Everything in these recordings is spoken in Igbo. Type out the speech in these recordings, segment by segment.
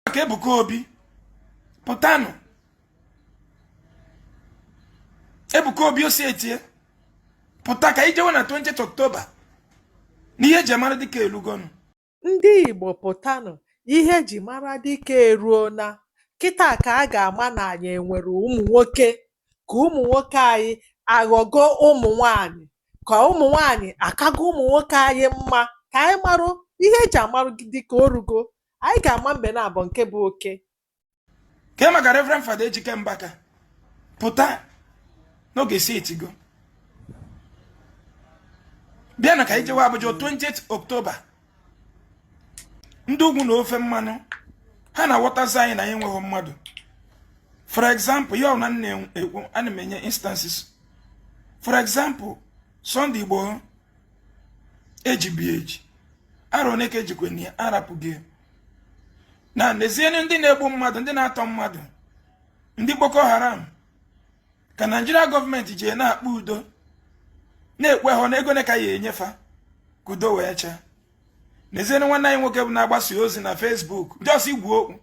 maka Ebuka Obi pụtanụ Ebuka Obi osi etie pụta ka anyị jewe na 20 October n'ihe eji mara dike elugonu ndị Igbo pụtanụ ihe eji mara dike eruo na kịta ka a ga-ama na anyị enwere ụmụ nwoke ka ụmụ nwoke anyị aghọgo ụmụ nwanyị ka ụmụ nwanyị akago ụmụ nwoke anyị mma ka anyị marụ ihe eji amarụ dike orugo anyị ga-ama mbe naabọ nke bụ oke ka maka reverend fada ejike mbaka pụta n'oge si etigo bịanụ ka anyị jewe Abuja 20 oktoba ndị ugwu na ofe mmanụ ha na-aghọtazi anyị na anyị enweghị mmadụ for example ya na nna ekwu ana m enye instances for example Sunday Igboho ejibu eji arọ one ka ejikwe na ya arapụghị na nezienụ ndị na-egbu mmadụ ndị na-atọ mmadụ ndị Boko Haram ka Naijiria gọọmenti ji na-akpa udo na-ekwe ha na ego one ka a ya-enye fa ka udo wee chịa nezienụ nwanne anyị nwoke bụ na-agbasa ozi na Facebook just ikwu okwu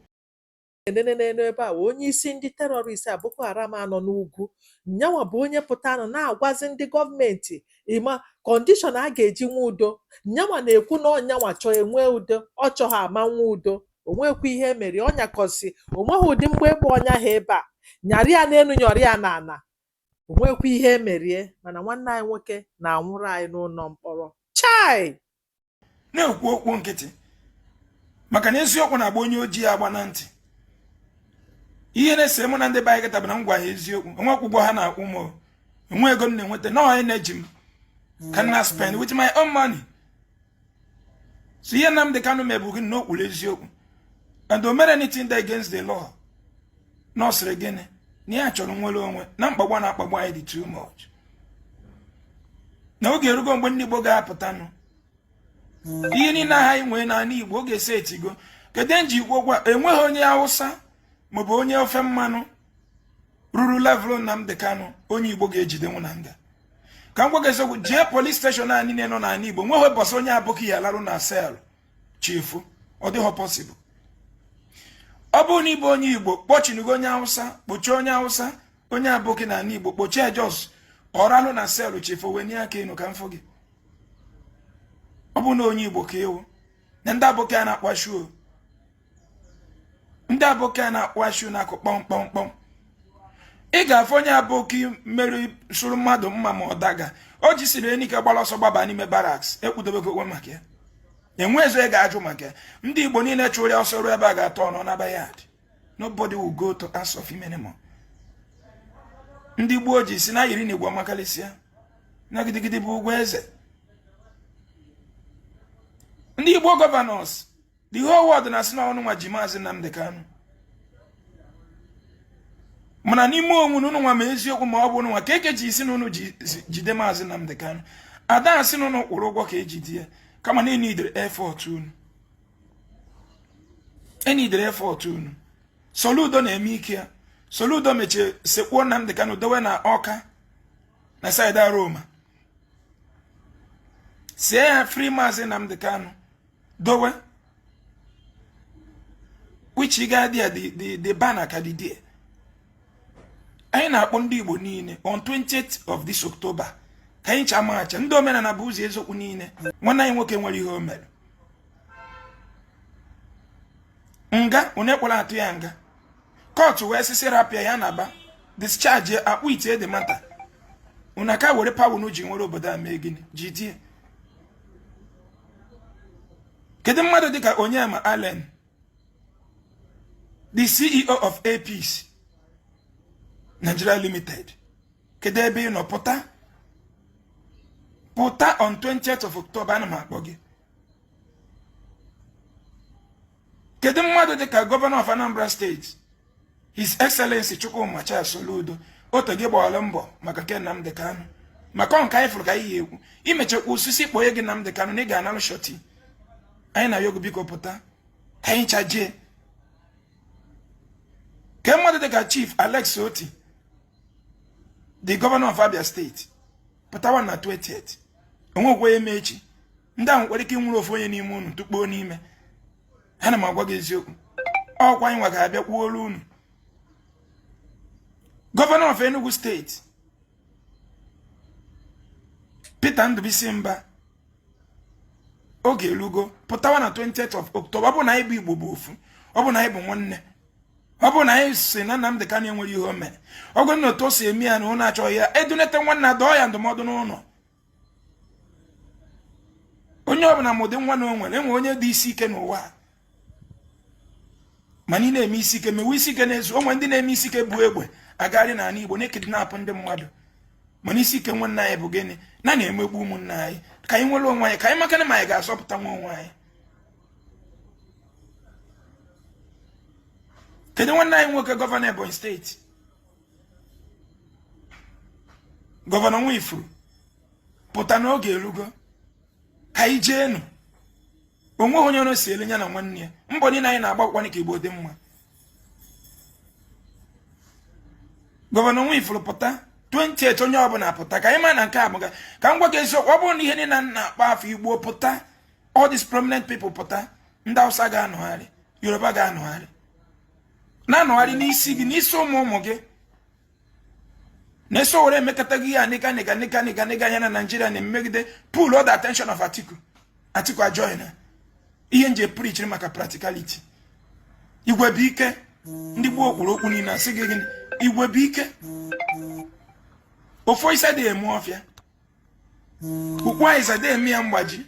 nenenenu ebe a wụ onye isi ndị terọrist a Boko Haram a nọ n'ugwu nyanwa bụ onye pụtanụ na-agwazi ndị gọọmenti ịma kọndishọn a ga-eji nwe udo nyanwa na-ekwu na ọ nyanwa chọọ enwe udo ọ chọghị ama nwe udo onwekwa ihe emere ọ nyakọsị onweghị ụdị mgbọ egbe ọ nyaghị ebe a nyarị ya n'elu nyọrị ya n'ala o nwekwa ihe emere ya mana nwanne anyị nwoke na-anwụrụ anyị n'ụlọ mkpọrọ chai na-ekwu okwu nkịtị maka na eziokwu na-agba onye ojii agba na ntị ihe na-ese mụ na ndị be anyị kịta bụ na m gwa ha eziokwu onwekwa ụgwọ ha na-akwụ m onwe ego m na-enweta na onye na-eji m ka m na spend with my own money so ihe Nnamdi Kanu me bụ gịnị na okwuru eziokwu and o mere anything that against the law na ọ sịrị gịnị na ya chọrọ nwere onwe na mkpagbu a na-akpagbu anyị dị too much na oge erugo mgbe ndị Igbo ga-apụtanụ ihe niile aha anyị nwee n'ala Igbo oge esi etigo kedu nji ikwu okwu enweghị onye Hausa maọbụ onye ofe mmanụ ruru level Nnamdi Kanu onye Igbo ga-ejidenwu na nga ka m gwa gị eziokwu jee polis steshọn a niile nọ n'ala Igbo nweghị ụbọsị onye aboki ya-alarụ na sel chi fo ọ dịghọ pọsịbụl ọ bụrụ na ịbụ onye Igbo kpọchinugo onye Hausa kpọchie onye Hausa onye aboki na ala Igbo kpọchie just ọ larụ na sel chi fo wenie aka enu ka m fụ gị ọ bụrụ na onye Igbo ka ịwụ na ndị aboki a na-akwa shoe ndị aboki a na-akwa shoe na-akụ kpọmkpọmkpọm ị ga-afụ onye aboki mmeri sụrụ mmadụ mma ma ọ daga o jisiri ike gbara ọsọ gbaba n'ime barracks ekwudobego onwe maka ya enwezi onye ga-ajụ maka ya ndị igbo niile chụrụ ya ọsọ ruo ebe a ga-atọ ọnụ na bayad nobody will go to ask of him anymore ndị gboo ji sị na yiri na igbo amakalisia na gidigidi bụ ugwu eze ndị igbo governors the whole world na-asị na ụnụnwa ji maazị Nnamdi Kanu mana n'ime onwe ụnụ ụnụnwa ma eziokwu na ọ bụ ụnụnwa ka eke ji isi na ụnụ jide maazị Nnamdi Kanu ada asị na ụnụ kwụrụ ụgwọ ka e jide ya kama na e needịrị effort unu Soludo na-eme ike ya Soludo mechie sekpuo Nnamdi Kanu dowe na Ọka na side Aroma sie ya free maazị Nnamdi Kanu dowe which ị gaa there the banner ka dị there anyị na-akpọ ndị Igbo niile on 20th of this October ka anyị ncha macha ndị omenala bụ ụzọ eziokwu niile nwanne anyị nwoke nwere ihe o mere nga onye kpọrọ atụ ya nga court wee sị sị rapụ ya na ba discharge acquitted mana unu ka were power unu ji were obodo a mee gịnị jidie kedu mmadụ dịka Onyema Allen the CEO of Air Peace Nigeria Limited kedu ebe ị nọ pụta on 20th of October ana m akpọ gị kedu mmadụ dịka governor of Anambra State His Excellency Chukwuma Charles Soludo although gị gbaala mbọ maka nke Nnamdi Kanu maka ọ nke anyị fụrụ ka anyị ga-ekwu ị mechakwa sị sị kpọnye gị Nnamdi Kanu na ị ga-analụ surety anyị na-ayọ gị biko pụta ka anyị ncha jee kee mmadụ dịka Chief Alex Otti the governor of Abia State pụtawa na 20th o nwee ike eme echi ndị ahụ nwere ike ịnwụrụ ofu onye n'ime unu tụkpoo n'ime ana m agwa gị eziokwu ọkwa anyị nwa ga-abịa kwuolu unu governor of Enugu State Peter Ndụbụisi Mba oge elugo pụtawa na 20th of October ọ bụ na anyị bụ Igbo bụ ofu ọ bụ na anyị bụ nwanne ọ bụ na anyị sị na Nnamdi Kanu enwere ihe o mere ọ bụ na otu o si eme ya na unu achọghị ya e dunata nwanna dọọ ya ndụmọdụ n'ụlọ onye ọbụla ma ụdị nwa na o nwere e nwere onye dị isi ike n'ụwa mana ị na-eme isi ike mewe isi ike n'ezu o nwere ndị na-eme isi ike bu egbe agagharị n'ala Igbo na-ekidnapụ ndị mmadụ mana isi ike nwanne anyị bụ gịnị na a na-emegbu ụmụnna anyị ka anyị nwere onwe anyị ka anyị makwanụ ma anyị ga-azọpụta nwa onwe anyị kedu nwanne anyị nwoke gọvanọ Ebonyi steeti gọvanọ Nwifuru pụta na oge erugo ka anyị jeenụ o nweghị onye ọrụ si ele ya na nwanne ya mbọ niile anyị na-agba bụkwanụ ka igbo dị mma gọvanọ Nwifuru pụta 20th onye ọbụla pụta ka anyị ma na nke a bụga ka m gwa gị eziokwu ọ bụrụ na ihe niile na-akpọ afọ igbo pụta all these prominent people pụta ndị Hausa ga-anọgharị Yoruba ga-anọgharị na-anọgharị n'isi gị n'isi ụmụ ụmụ gị na-eso were emekọta gị na ya na naijiria na-emegide pull all the attention of Atiku Atiku ajoin ihe m ji prichiri maka practicality igwe bụ ike ndị gboo kwuru okwu niile asị gị gịnị igwe bụ ike ofu osisi adị eme ọfịa ukwu azịza adị eme ya mgbaji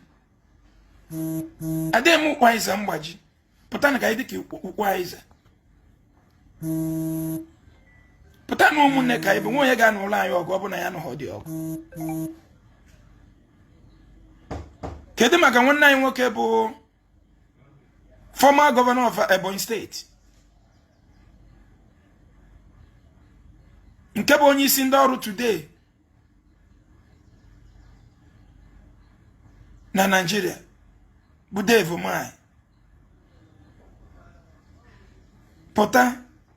adịghị eme ukwu azịza mgbaji pụtanụ ka anyị dịka ukwu azịza pụta na ụmụnne ka anyị bụ enweghị onye ga-anụlụ anyị ọgụ ọ bụ na anyị anụghịdị ọgụ kedu maka nwanne anyị nwoke bụ former governor of Ebonyi State nke bụ onye isi ndị ọrụ today na Naịjirịa bụ Dave Umahi pụta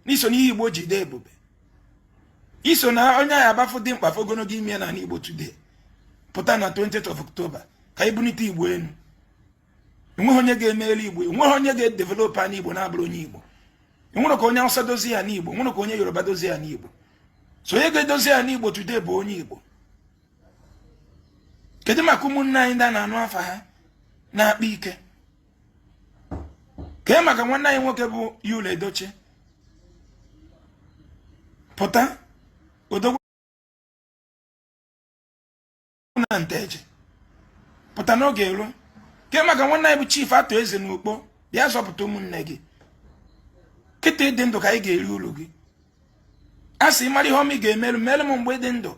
na i so n'ihe Igbo ji dị ebube i so na onye anyị a bụ a fụ dimkpa a fụ ogologo imi n'ala Igbo today pụta na 20th of October ka anyị bunite Igbo enu enweghị onye ga-emeli igbo enweghị onye ga-edevelop ana igbo na-abụrọ onye igbo enwerọ ka onye awụsa dozie ana igbo enwerọ ka onye yoruba dozie ana igbo so onye ga-edozi ana igbo today bụ onye igbo kedu maka ụmụnne anyị ndị a na-anụ afa ha na-akpa ike kee maka nwanne anyị nwoke bụ Yul Edochie pụta odogwu na nteje pụta na oge eruo kee maka nwanne anyị bụ chief Arthur Eze na Ukpo bịa zọpụta ụmụnne gị kịta ị dị ndụ ka anyị ga-eri uru gị a sị mara ihe ọma ị ga-emere m mere m mgbe m dị ndụ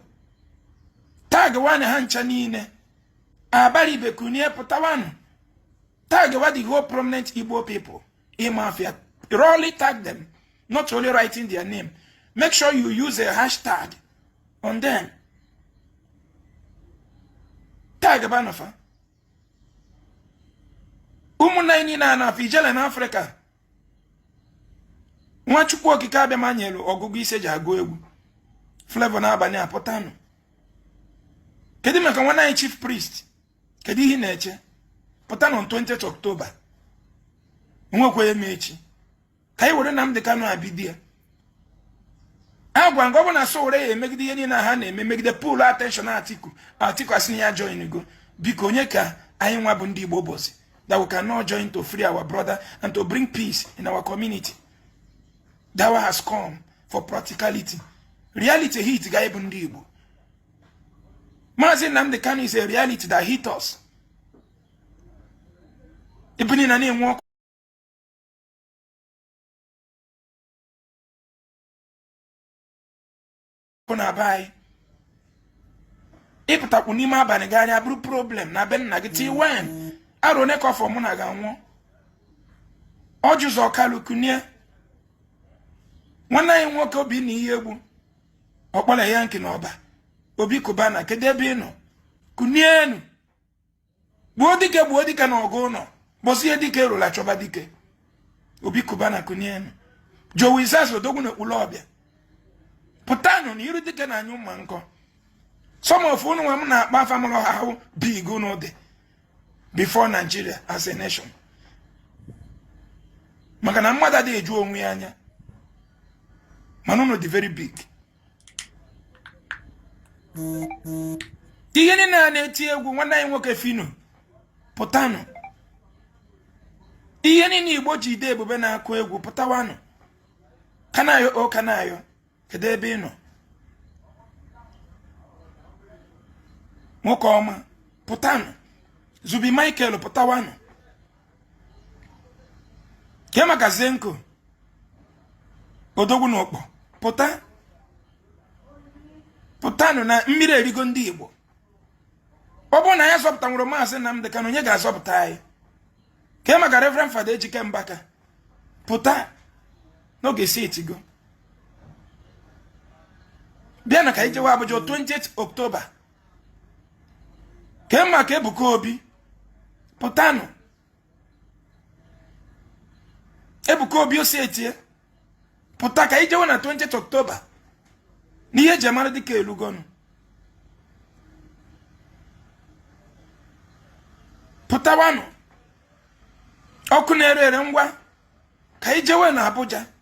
tagwanụ ha ncha niile Abaribe kunie pụtawanụ tagwa the whole prominent igbo people ịmafia rọli tag them not only writing their name. Make sure you use a hashtag on them. Tagbanụ fa. ụmụnna anyị niile a na-afụ Ijele na Africa nwa Chukwu Okike Abịama nyelu ọgụgụ isi e ji agụ egwu Flavour N'abania pụtanụ kedu maka nwanne anyị chief priest kedu ihe ị na-eche pụtanụ 20 October nwekwa eme echi ka anyị were Nnamdi Kanu abidi ya agwa m gị ọ bụ na Sowore ya emegide ihe niile ha na-eme megide pull attention Atiku Atiku asị ya joingo biko onye ka anyị nwa bụ ndị Igbo bụzi that we cannot join to free our brother and to bring peace in our community that one has come for practicality reality hit go anyị bụ ndị Igbo Maazị Nnamdi Kanu is a reality that hit us ebe niile na-enwu ọkụ bụ na be anyị ị pụtakwu n'ime abalị gagharịa ọ bụrụ problem na be nna gị till when arọ one ka ọ fọ mụ na gị anwụọ Orji Uzor Kalu kunie nwanne anyị nwoke Obinna Iyiegbu ọkpọla ya nke na Ọba Obi Cubana kedu ebe ị nọ kunienu gbuo dike gbuo dike na ọgụ ụnọ ụbọsị ihe dike rulu a chọba dike Obi Cubana kunienu Jowi Zaza odogwu na Ekwulobia pụtanụ na iru dike na-anyụ mma nkọ some of unu nwa m na-akpọ afa amarọ how big unu dị before Nigeria as a nation maka na mmadụ adịghị eju onwe ya anya mana unu dị very big ihe niile a na-eti egwu nwanne anyị nwoke Phyno pụtanụ ihe niile Igbo ji dị ebube na-akụ egwu pụtawanụ Kanayo O Kanayo kedu ebe ị nọ nwoke ọma pụtanụ Zubby Michael pụtawanụ kee maka Zenco odogwu na Ukpor pụta pụtanụ na mmiri erigo ndị igbo ọ bụrụ na anyị azọpụtanwurọ maazị Nnamdi Kanu onye ga-azọpụta anyị kee maka Reverend Father Ejike Mbaka pụta n'oge si etigo bịanụ ka anyị jewe Abuja 20 October kee maka Ebuka Obi pụtanụ Ebuka Obi osi etie pụta ka anyị jewe na 20 October n'ihe e ji amara dike elugonu pụtawanụ ọkụ na-ere ere ngwa ka anyị jewe na Abuja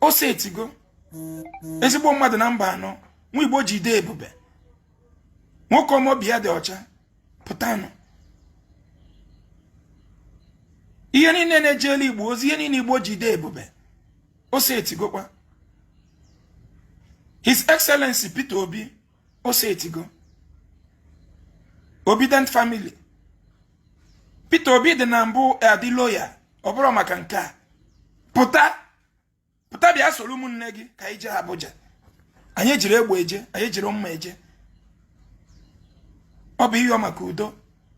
o setigo ezigbo mmadụ na mba anọ nwa igbo ji ede ebube nwoke ọma obi ya dị ọcha pụtanụ ihe niile na-ejela igbo ozi ihe niile igbo ji ede ebube o setigokwa his excellency peter obi o setigo Obidient family Peter Obi dị na mbụ adị loyal ọ bụrụ maka nke a pụta pụta bịa soro ụmụnne gị ka anyị jee Abuja anyị ejiro egbe eje anyị ejiro mma eje ọ bụ ịyọ maka udo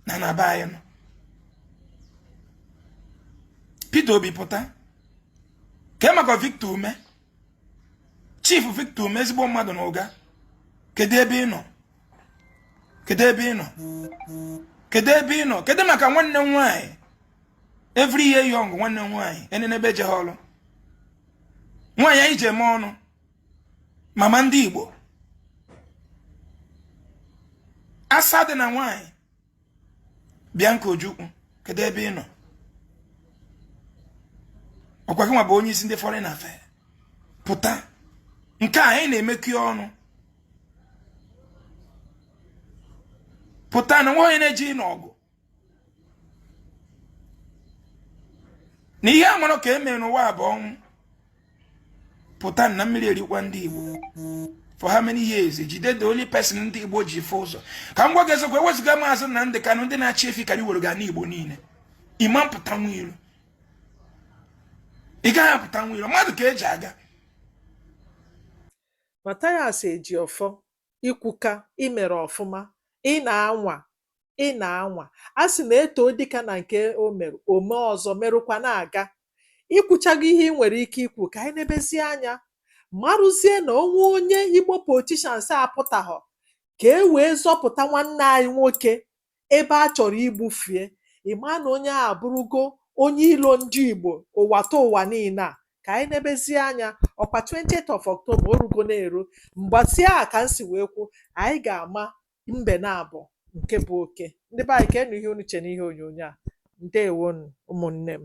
n'ana be anyị nọ Peter Obi pụta kee maka Victor Umeh Chief Victor Umeh ezigbo mmadụ na Uga kedu ebe ị nọ kedu ebe ị nọ kedu ebe ị nọ kedu maka nwanne m nwaanyị every year young nwanne m nwaanyị enenebe ejeghị ọlụ nwaanyị anyị ji eme ọnụ mama ndị Igbo asa dị na nwaanyị Bianca Ojukwu kedu ebe ị nọ ọkwa gị nwa bụ onye isi ndị foreign affairs pụta nke a anyị na-emekọ ọnụ pụta na nwa onye na-eji n'ọgụ na ihe a marọ ka e mere n'ụwa bụ ọnwụ pụta na mmiri erikwa ndị Igbo for how many years jide the only person ndị Igbo ji fụ ụzọ ka m gwa gị eziokwu ewezuga maazị Nnamdị Kanụ ndị na-achị efi karị ewerugo ana Igbo niile ị ma-apụtanwu iro ị gaghị apụtanwu iro mmadụ ka eji aga Mathias Ejiofor i kwuka, i mere ọfụma, ị na-anwa, ị na-anwa. A sị na e too dike na nke o mere, o mee ọzọ, merụkwa na-aga. I kwuchago ihe i nwere ike ikwu, ka anyị nebezie anya marụzie na o nwee onye Igbo politicians apụtaghọ ka e wee zọpụta nwanne anyị nwoke ebe a chọrọ igbufu ya, ị ma na onye ahụ abụrụgo onye ilo ndị Igbo ụwatụwa niile a. Ka anyị nebezie anya, ọkwa 20th of October, o rugo na-eru. Mbọsị ahụ ka m si wee kwuo, anyị ga-ama mbe naabọ nke bụ oke. Ndị be anyị, keenụ ihe unu che n'ihe onyonyo a. Ndewonu ụmụnne m.